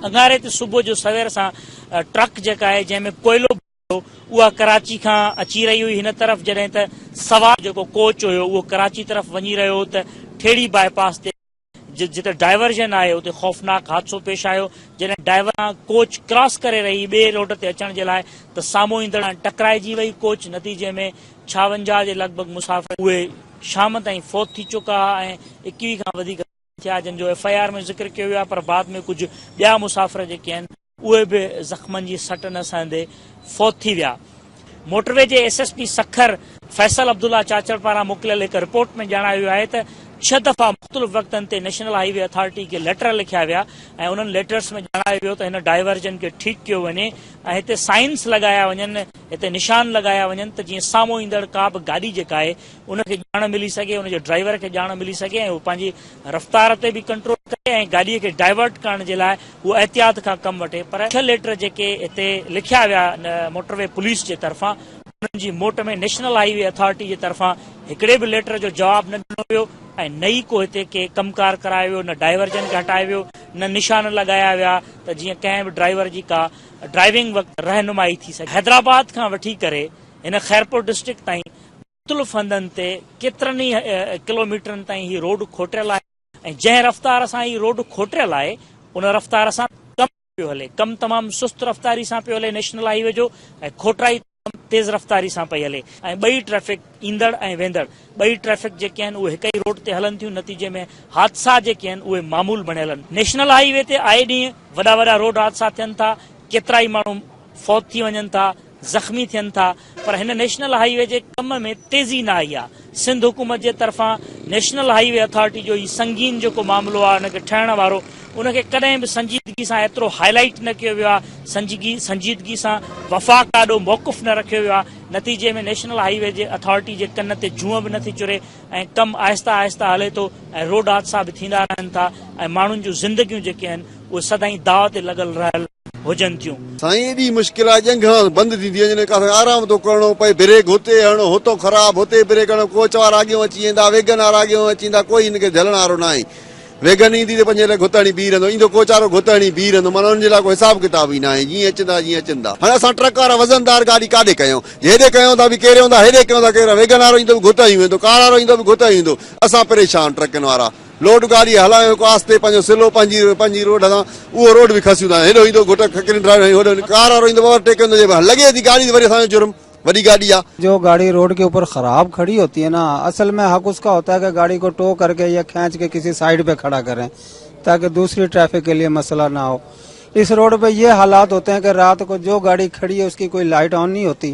اڱاري تي صبح جو سوير سان ٽرڪ جيڪا آهي جنهن ۾ ڪوئلو ڀريو هو اها ڪراچي کان اچي رهي هئي هن طرف جڏهن ته سوار جيڪو ڪوچ هيو اهو ڪراچي طرف وڃي رهيو هو ته ٺيڙهي باء پاس تي جتي ڊائيورجن آهي اتي خوفناڪ حادثو پيش آيو جڏهن ڊائيور سان ڪوچ ڪراس ڪري رهي ٻئي روڊ تي اچڻ جي لاء ته سامهون ايندڙ سان ٽڪرائجي وئي ڪوچ نتيجي ۾ ڇاونجاهه جي لڳ ڀڳ مسافر اهي شام تائين فوت ٿي چڪا ها ۽ ايڪويهه کان وڌيڪ ٿيا جن جو ايف آء آر ۾ ذڪر ڪيو ويو آهي پر بعد ۾ ڪجهه ٻيا مسافر جيڪي آهن اهي به زخمن جي سٽ نه سهندي فوت ٿي ويا موٽروي جي S S P Sukkur Faisal Abdullah Chachar پاران موڪليل هڪ رپورٽ ۾ ڄاڻايو ويو آهي ته ڇهه دفعا مختلف وقتن تي نيشنل هاء وي اٿارٽي کي ليٽر لکيا ويا ۽ انهن ليٽرس ۾ ڄاڻايو ويو ته هن ڊائيورجن کي ٺيڪ ڪيو وڃي ۽ هتي سائنس لڳايا وڃن هتي نشان لڳايا وڃن ته جيئن سامهون ايندڙ ڪا به گاڏي جيڪا آهي ان کي ڄاڻ ملي سگهي، ان جي ڊرائيور کي ڄاڻ ملي سگهي ۽ هو پنهنجي رفتار تي به ڪنٽرول ڪري ۽ گاڏي کي ڊائيورٽ ڪرڻ جي لاء هو احتياط کان ڪم وٺي پر ڇهه ليٽر جيڪي هتي لکيا ويا آهن موٽروي پوليس جي طرفان انهن جي موٽ ۾ نيشنل هائي وي اٿارٽي جي طرفان هڪڙي به ليٽر جو جواب نه ڏنو ويو ۽ نه ئي ڪو هتي ڪي ڪم ڪار ڪرايو ويو نه ڊائيورجن کي هٽايو ويو نه نشان لڳايا ويا ته جيئن ڪنهن به ڊرائيور جي ڪا ڊرائيونگ وقت رهنمائي ٿي سگهي حيدرآباد کان وٺي ڪري هن خيرپور ڊسٽرڪٽ تائين مختلف هنڌن تي ڪيترن ئي ڪلوميٽرن تائين هي روڊ کوٽيل آهي ۽ جنهن رفتار سان هي روڊ کوٽيل آهي ان رفتار سان ڪم پيو هلي ڪم تمام سست رفتاري سان پيو هلي نيشنل هاء وي جو ۽ کوٽرائي تيز رفتاري سان پئي هلي ۽ ٻئي ٽريفڪ ايندڙ ۽ ويندڙ ٻئي ٽريفڪ جيڪي آهن اهي هڪ ئي روڊ تي هلن ٿيون نتيجي ۾ حادثا جيڪي آهن اهي معمول بڻيل آهن نيشنل هاء وي تي آئي ڏينهن وڏا وڏا روڊ حادثا ٿين ٿا ڪيترائي ماڻهو فوت ٿي وڃن ٿا زخمي ٿين ٿا پر هن نيشنل هائي وي جي ڪم ۾ تيزي نه آئي آهي سنڌ حڪومت جي طرفان نيشنل هائي وي اٿارٽي جو هي سنگين جيڪو معاملو آهي ان کي ٺهڻ وارو ان کي ڪڏهن به سنجيدگي سان ايترو هائي لائيٽ نه ڪيو ويو آهي سنجيدگي سنجيدگي سان وفاق آڏو موقف نه رکيو ويو آهي نتيجي ۾ نيشنل هائي وي جي اٿارٽي جي ڪن تي جونء به نٿي چري ۽ ڪم آهستي آهستي هلي ٿو ۽ روڊ حادثا به ٿيندا رهن ٿا ۽ ماڻهن جون زندگيون جيڪي آهن اهي سدائين داء تي لڳل رهيل هجن ٿيون. سائين ايڏي مشڪل آ ڄنگهان بند ٿيندي وڃي نڪا سائين آرام ٿو ڪرڻو پئي بريڪ هتي هڻو هتو خراب هتي بريڪ هڻو ڪوچ وارا اڳيون اچي ويندا ويگن وارا اڳيون اچي ويندا ڪوئي هن کي جهلڻ وارو ناهي ويگن ايندي ته پنهنجي لاء گهت هڻي بيهي رهندو ايندو ڪوچ وارو گهت هڻي بيهي رهندو معنيٰ ان جي لاء ڪو حساب ڪتاب ئي ناهي جيئن اچندا جيئن اچندا هاڻي اسان ٽرڪ وارا وزندار گاڏي ڪاڏي ڪيون جي هيڏي ڪيون ٿا ڀي ڪيري هوندا هيڏي ڪيون ٿا ڪيري ويگن وارو ايندو به گهت هڻي ويندو ڪار وارو ايندو به گهت هڻي ويندو اسان پريشان ٽرڪن وارا. لوڊ گاڏي هلائڻ جو هڪ آستي پنهنجو سلو پنهنجي پنهنجي روڊ هلان اهو روڊ به کسيون ٿا هيڏو ايندو گهٽ کڪرين ڊرائيو ۽ هوڏو ڪار وارو ايندو اوور ٽيڪ ڪندو جي لڳي ٿي گاڏي ته وري اسان جو جرم وڏي گاڏي آ. جو گاڙي روڊ ڪي اوپر خراب کڙي هوتي هي نا اصل مين حق اسڪا هوتا هي ڪي گاڙي ڪو ٽو ڪر ڪي يا کينچ ڪي ڪسي سائيڊ پي کڙا ڪرين تاڪه دوسري ٽريفڪ ڪي ليي مسئلا نا هو اس روڊ پي يي حالات هوتي هي ڪي رات ڪو جو گاڙي کڙي هي اسڪي ڪوئي لائيٽ آن نهي هوتي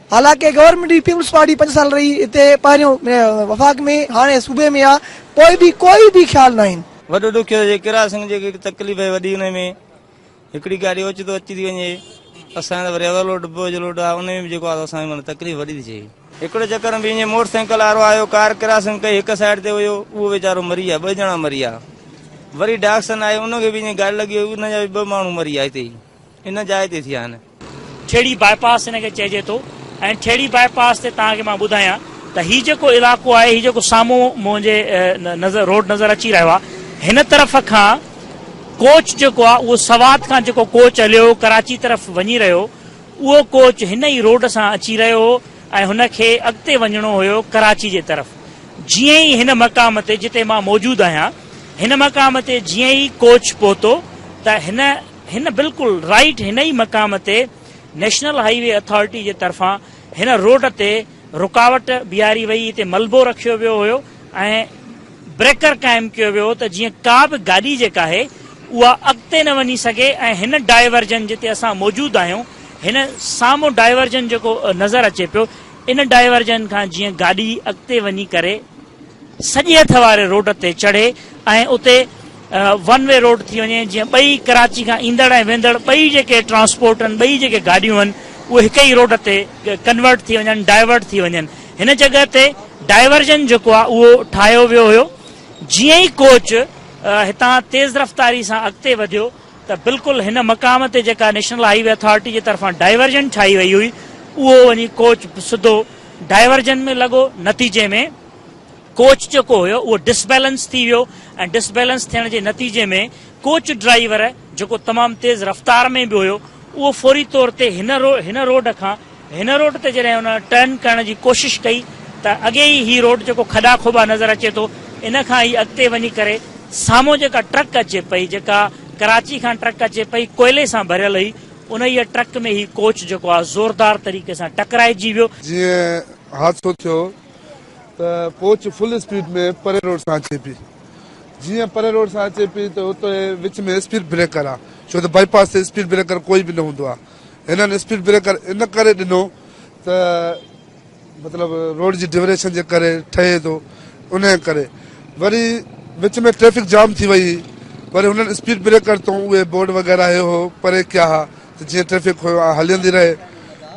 حالانڪ گورنمينٽ جي پيپلز پارٽي پنج سال رهي هتي پهريون وفاق ۾ هاڻي صوبي ۾ آ پوء به ڪوئي به خيال ناهن. وڏو ڏک اهو جي ڪرا سنگ جي هڪڙي تڪليف اهي وڏي انهي ۾ هڪڙي گاڏي اوچتو اچي ٿي وڃي اسان جي ته وري اولوڊ ڊبو ايج لوڊ آ انهي ۾ به جيڪو آ اسان کي تڪليف وڏي ٿي ٿئي. هڪڙو چڪر ۾ ائين موٽر سائيڪل وارو آيو ڪار ڪراسنگ ڪئي هڪ سائيڊ تي هيو اهو ويچارو مري ويا ٻه ڄڻا مري ويا وري ڊاڪسن آيو ان کي به ائين گاڏي لڳي وئي ان جا به ٻه ماڻهو مري ويا هتي ئي ان جاء تي ٿيا آهن. ٺيڙهي باء پاس هن کي چئجي ٿو ۽ ٺيڙهي باء پاس تي توهان کي مان ٻڌايان ته هي جيڪو علائقو آهي هي جيڪو سامهون منهنجي نظر روڊ نظر اچي رهيو آهي هن طرف کان ڪوچ جيڪو آهي اهو سوات کان جيڪو ڪوچ هليو هو ڪراچي طرف وڃي رهيو هو اهو ڪوچ هن ئي روڊ سان اچي رهيو هو ۽ هن کي اڳتي وڃڻو هيو ڪراچي جي طرف جيئن ئي هن مقام تي جتي مان موجود آهيان هن مقام تي جيئن ئي ڪوچ پهتو ته هن هن بلڪل رائيٽ هن ئي مقام تي نيشنل هائي وي اٿارٽي جي طرفان هن روڊ تي رڪاوٽ بيهاري وئي هتي ملبو رکيو ويو هيو ۽ بريڪر قائم ڪيو ويو هو ته جيئن ڪا به گاڏي جيڪا آهي اها اڳتي نه وڃي سگهي ۽ هن ڊائيورجن جتي اسان موجود آهيون هن سامهون ڊائيورجن جيڪو نظر اچي پيو ان ڊائيورجن کان جيئن گاڏي اڳتي وڃي ڪري سڄي هٿ واري روڊ تي چڙهي ۽ اتي ون وي روڊ ٿي وڃي جيئن ٻئي ڪراچي کان ايندڙ ۽ ويندڙ ٻئي جيڪي ٽرانسپورٽ آهن ٻئي جيڪي گاڏيون آهن اهي هڪ ئي روڊ تي ڪنورٽ ٿي وڃن ڊائيورٽ ٿي وڃن هن جڳهه تي ڊائيورجن جيڪو آهي اهو ٺاهيو ويو هيو جيئن ئي ڪوچ هتان تيز رفتاري سان اڳتي وڌيو ته بلڪل هن مقام تي جيڪا نيشنل هائي وي اٿارٽي جي طرفان ڊائيورجن ٺاهي وئي هئي اهو وڃي ڪوچ سڌو ڊائيورجن ۾ لڳو نتيجي ۾ ڪوچ جيڪو هيو اهو ڊسبيلنس ٿي ويو ۽ ڊسبيلنس ٿيڻ جي نتيجي ۾ ڪوچ ڊرائيور جيڪو تمام تيز رفتار ۾ به هيو اهو فوري طور تي هن هن روڊ کان هن روڊ تي جڏهن ان ٽرن ڪرڻ جي ڪوشش ڪئي ته اڳي ئي هي روڊ جيڪو کڏا کوٻا نظر اچي ٿو ان کان هي اڳتي وڃي ڪري سامهون جيڪا ٽرڪ اچي پئي جيڪا ڪراچي کان ٽرڪ اچي پئي ڪوئلي سان ڀريل هئي انهيء ٽرڪ ۾ هي ڪوچ جيڪو آهي زوردار طريقي سان ٽڪرائجي ويو. جيئن حادثو ٿيو ته ڪوچ فل اسپيڊ ۾ پري روڊ سان اچي پئي جيئن پري روڊ سان اچي پئي ته اتي وچ ۾ اسپيڊ بريڪر آهي ڇو ته بائي پاس تي اسپيڊ بريڪر ڪوئي به نه هوندو آهي هنن اسپيڊ بريڪر ان ڪري ڏنو ته مطلب روڊ جي ڊيوريشن جي ڪري ٺهي ٿو ان ڪري وري وچ ۾ ٽريفڪ جام ٿي وئي وري هنن اسپيڊ بريڪر تون اهي بورڊ وغيرہ هيو هو پري ڪيا ها ته جيئن ٽريفڪ هيو آ هلندي رهي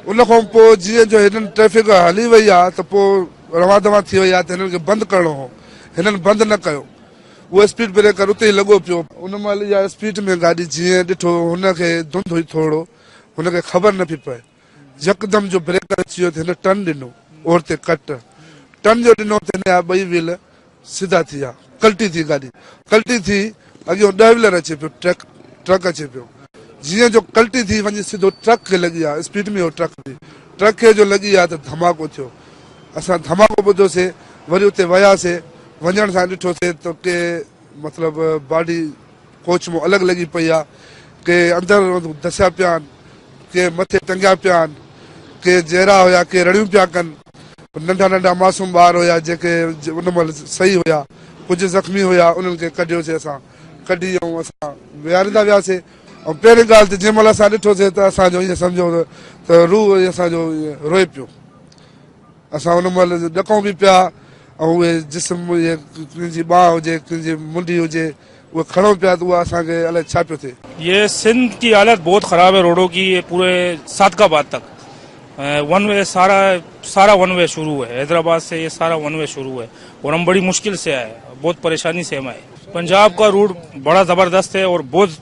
ان کان پوء جيئن جو هنن ٽريفڪ هلي وئي آ ته پوء روان دوان ٿي وئي آ ته هنن کي بند ڪرڻو هو هنن بند نه ڪيو اهو اسپيڊ بريڪر اتي ئي لڳو پيو. ان مهل اها اسپيڊ ۾ گاڏي جيئن ڏٺو هن کي ڌنڌ هئي ٿورڙو هن کي خبر نه پئي پئي يڪدم جو بريڪر اچي ويو ته هن ٽرن ڏنو اور تي ڪٽ ٽرن جو ڏنو ته هن جا ٻئي ويل سڌا ٿي ويا ڪلٽي ٿي گاڏي ڪلٽي ٿي اڳيون ڏهه ويلر اچي پيو ٽرڪ ٽرڪ اچي پيو جيئن جو ڪلٽي ٿي وڃي سڌو ٽرڪ کي لڳي آ اسپيڊ ۾ هو ٽرڪ به ٽرڪ کي جو لڳي آ ته ڌماڪو ٿيو اسان ڌماڪو ٻڌوسي وري اتي وياسي وڃڻ سان ڏٺوسين ته ڪي مطلب باڊي ڪوچ مون الڳ لڳي پئي آ ڪي اندر دسيا پيا آھن ڪي مٿي ٽنگيا پيا آھن ڪي جيرا ھيا ڪي رڙيون پيا ڪن ننڍا ننڍا معصوم ٻار ھيا جيڪي ان مھل صحيح ھيا ڪجھ زخمي ھيا انھن کي ڪڍيوسي اسان ڪڍي ۽ اسان ويھاريندا وياسي ۽ پهرين ڳالھ ته جنھن مھل اسان ڏٺوسي ته اسان جو ائين سمجھيو ته روح اسان جو روئي پيو اسان ان مهل ڏڪون به پيا ۽ اهي جسم جيئن ڪنهن جي ٻانهه هجي ڪنهن جي منڍي هجي اهي کڻون پيا ته اها اسان کي الائي ڇا پيو ٿئي. يي سنڌ ڪي حالت بهت خراب هي روڙو ڪي يي پوري صادق آباد تڪ ون وي سارا سارا ون وي شروع هي حيدر آباد سي يي سارا ون وي شروع هي اور هم بڙي مشڪل سي آئي بهت پريشاني سي هم آئي پنجاب ڪا روڙ بڙا زبردست هي اور بهت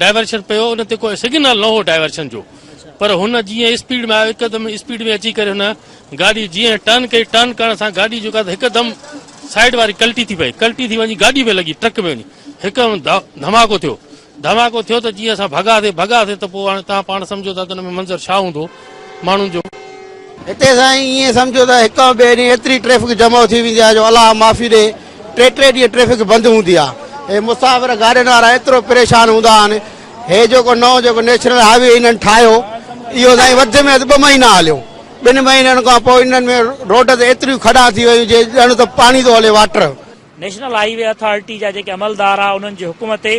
ڊائيورشن پيو ان تي ڪو سگنل نه هو ڊائيورشن جو پر هن جيئن اسپيڊ ۾ آيو هڪدم اسپيڊ ۾ اچي ڪري هن گاڏي جيئن ٽرن ڪئي ٽرن ڪرڻ سان گاڏي جو هڪدم سائيڊ واري ڪلٽي ٿي پئي ڪلٽي ٿي وڃي گاڏي ۾ لڳي ٽرڪ ۾ وڃي هڪدم ڌماڪو ٿيو ڌماڪو ٿيو ته جيئن اسان ڀڳاسي ڀڳاسي ته پوء هاڻي تان پاڻ سمجهو ته ان ۾ منظر ڇا هوندو ماڻهن جو. هتي سائين ائين سمجهو ته هڪ ۽ ٻئي ڏينهن ايتري ٽريفڪ جمع ٿي ويندي آهي جو الله معافي ڏي ٽي ٽي ڏينهن ٽريفڪ بند هوندي آهي. هي مسافر گاڏين وارا ايترو پريشان هوندا آهن. هي جيڪو نئون جيڪو نيشنل هاء وي هنن ٺاهيو اهو سائين وڌ ۾ وڌ ٻه مهينا هليو. ٻن مهينن کان پوء انهن ۾ روڊ تي ايتريون کڏا ٿي ويون جي ڄڻ ته پاڻي ٿو هلي water. National highway authority جا جيڪي عملدار آهي انهن جي حڪم تي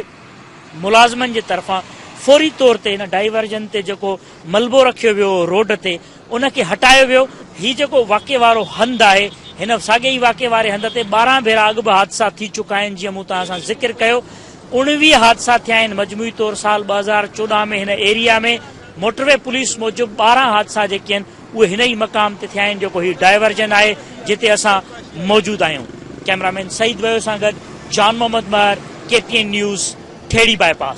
ملازمن جي طرفان فوري طور تي هن ڊائيورجن تي جيڪو ملبو رکيو ويو هو روڊ تي ان کي هٽايو ويو هي جيڪو واقعي وارو هنڌ آهي هن ساڳئي ئي واقعي واري هنڌ تي ٻارهن ڀيرا اڳ به حادثا ٿي چڪا آهن جيئن مون توهان سان ذڪر ڪيو اوڻويهه حادثا ٿيا آهن مجموعي طور سال ٻه هزار چوڏهن ۾ هن ايريا ۾ موٽروي پوليس موجب ٻارهن حادثا جيڪي آهن اهي هن ئي مقام تي ٿيا آهن جيڪو هي ڊائيورجن آهي جتي اسان موجود آهيون ڪئميرا مين سعيد ويو سان گڏ Jan Muhammad Mehar K T N news Thehri باء پاس